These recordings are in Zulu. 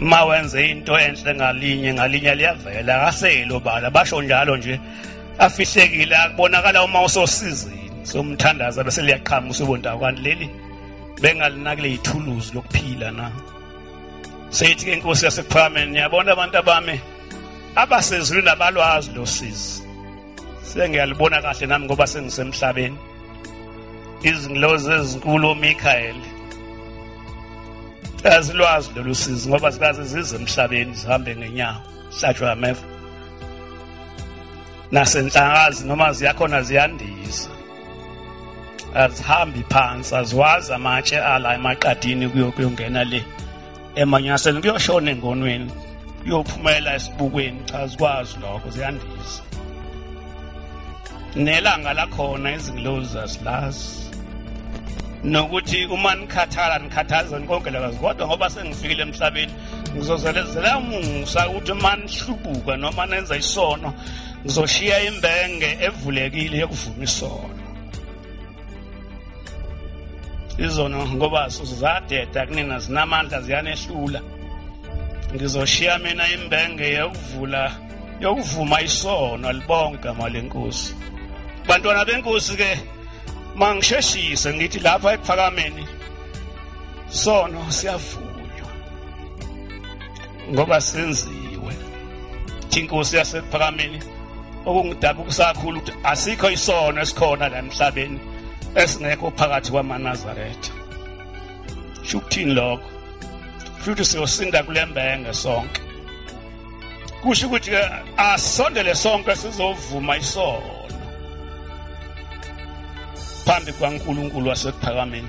uma wenze into enhle ngalinye ngalinye liyavela akaseli obala basho njalo nje afihlekile akubonakala uma usosizini somthandaza bese liyaqhamuka usubonta kwani leli bengalinakile yithuluzi lokuphila na seyithi ke inkosi yasephakame niyabona abantu abami abasezulwini abalwazi losizi sengiyalibona kahle nami ngoba sengisemhlabeni izingilozi ezinkulu oMichael azilwazi lolu sizi ngoba zikaze zize emhlabeni zihambe ngenyawo sihlatshwe ameva nasenhlakazi noma ziyakhona ziyandisa azihambi phansi aziwazi amatshe ala emaqadini kuyokuyongena le emanyaseni kuyoshona engonweni kuyophumelela esibukweni cha zikwazi lokho ziyandisa nelanga lakhona izingilozi zasilazi nokuthi uma nikhathala nikhathazeni konke lakazi kodwa ngoba sengifikile emhlabeni ngizozelezela musa ukuthi uma nihlubuka noma nenza isono ngizoshiya imbenge evulekile yokuvuma isono izono ngoba zadeda kunina zinamandla ziyanehlula ngizoshiya mina imbenge yokuvula yokuvuma isono libonke igama lenkosi bantwana benkosi ke mangisheshise ngithi lapha ephakameni sono siyavuka ngoba senziwe inkosi yasekuphakameni okungidaba ukusakhulu ukuthi asikho isono esikhona la emhlabeni esingekho phakathi kwamanazaretha sho ukuthini lokho futhi siyosinda kule mbenge sonke kusho ukuthi ke asondele sonke sizovuma isono phambi kwaNkulunkulu wasekuphakameni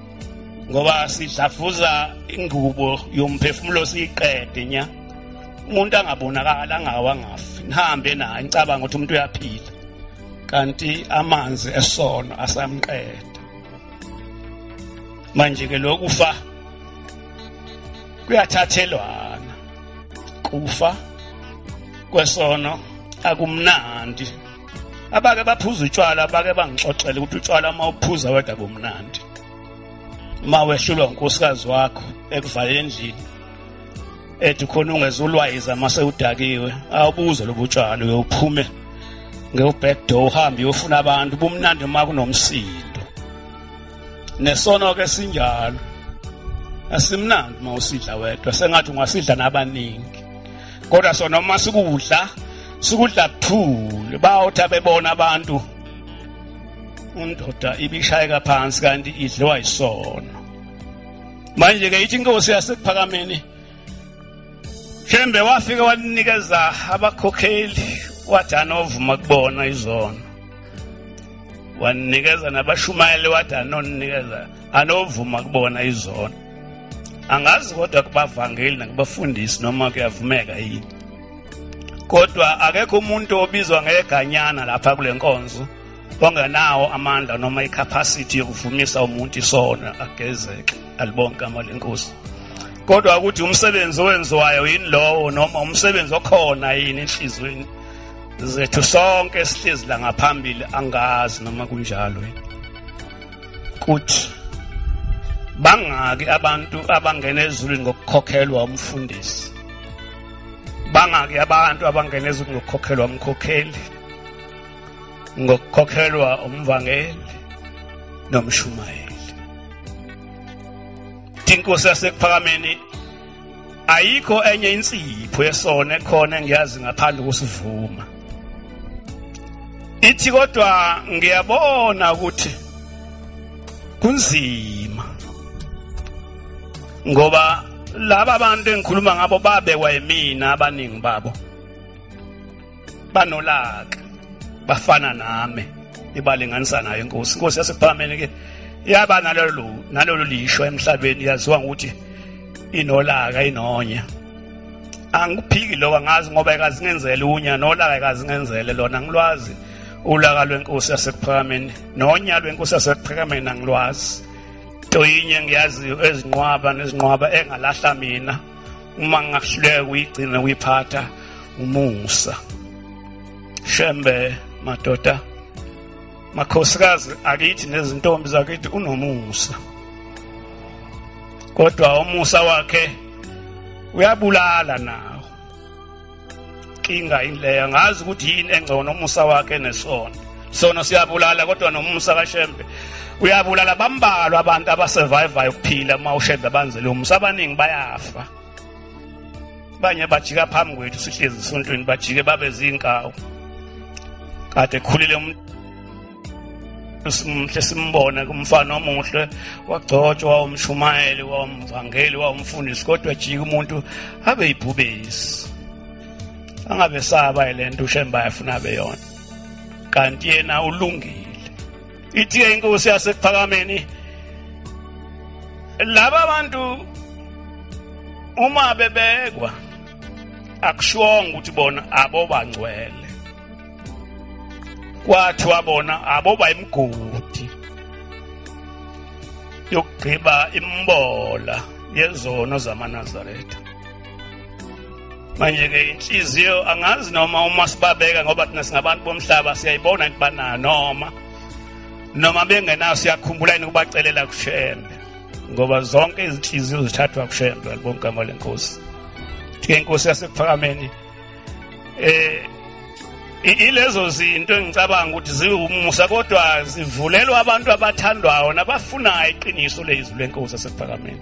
ngoba sidlafuza ingubo yomphefumulo siyiqede nya umuntu angabonakala angawa ngafi nihambe naye nicabanga ukuthi umuntu uyaphila kanti amanzi esono asamqeda manje ke lokufa kuyathathelwana kufa kwesono akumnandi abake baphuza utshwala bake bangixoxele ukuthi utshwala uma uphuza wedwa kumnandi uma wehlulwa unkosikazi wakho ekuvalele endlini ethi khona ungezulwayiza uma sewudakiwe awubuze lobu tshwala uyophume ngewu-back door uhambe uyofuna abantu bumnandi uma kunomsindo nesono-ke sinjalo asimnandi uma usidla wedwa sengathi ungasidla nabaningi kodwa sona uma sikudla sikudla kuthule bawuthi abebona abantu indoda ibishayeka phansi kanti idliwa isono manje ke ithi inkosi yasekuphakameni shembe wafike walinikeza abakhokheli wathi anovuma kubona izono wanikeza nabashumayeli wathi anoninikeza anovuma kubona izono angazi kodwa kubavangeli nakubafundisi noma kuyavumeka yini kodwa akekho umuntu obizwa ngeganyana lapha kule nkonzo ongenawo amandla noma icapacity yokuvumisa umuntu isona agezeke alibonke igama lenkosi kodwa ukuthi umsebenzi owenziwayo yini lowo noma umsebenzi okhona yini enhlizweni zethu sonke sihlezi la ngaphambili angazi noma kunjalo yini kuthi bangaki abantu abangena ezulwini ngokukhokhelwa umfundisi bangaki abantu abangena ezulwini ngokukhokhelwa umkhokheli ngokukhokhelwa umvangeli nomshumayeli inkosi yasekuphakameni ayikho enye insipho yesona ekhona engiyazi ngaphandle kusivuma ithi kodwa ngiyabona ukuthi kunzima ngoba laba bantu engikhuluma ngabo babekwa yimina abaningi babo banolaka bafana nami ibalinganisa nayo inkosi inkosi yasephakameni ke yaba nalolu nalolu lisho emhlabeni yaziwa ngokuthi inolaka inonya angiphiki lokho angazi ngoba ekazingenzele unya nolaka ekazingenzele lona ngilwazi ulaka lwenkosi yasekuphakameni nonya lwenkosi yasekuphakameni angilwazi toyinye ngiyaziyo ezinqwaba nezinqwaba engalahla mina uma ngingahluleka kuyigcina kuyiphatha umusa shembe madoda makhosikazi akithi nezintombi zakithi unomusa kodwa umusa wakhe uyabulala nawo inkinga ileya ngazi ukuthi yini engcono umusa wakhe nesono sono siyabulala kodwa nomusa kashembe uyabulala bambalwa abantu abasurvivayo ukuphila uma ushembe abanzele umusa abaningi bayafa banye bajika phambi kwethu sihlezi esontweni bajike babe zinkawu kade khulile umuntu simhle simbona kumfana omuhle wagcotshwa wawumshumayeli wawumvangeli wawumfundisi kodwa jika umuntu abe yibhubesi angabe saba le nto ushemba yafuna beyona kanti yena ulungile ithi-ke inkosi yasekuphakameni laba bantu uma bebekwa akushongo ukuthi bona abobangcwele kwathi wabona aboba imgodi yokugqiba imbola yezono zamanazaretha manje-ke inhliziyo angazi noma uma sibabeka ngoba thina singabantu bomhlaba siyayibona ukuthi banayo noma noma bengenayo siyakhumbula yini ukubacelela kushembe ngoba zonke izinhliziyo zithathwa kushembe libongigama lenkosi ke inkosi yasekuphakamenini eh ilezo zinto engicabanga ukuthi ziwumusa kodwa zivulelwa abantu abathandwayo nabafunayo iqiniso lezwi lenkosi asephakameni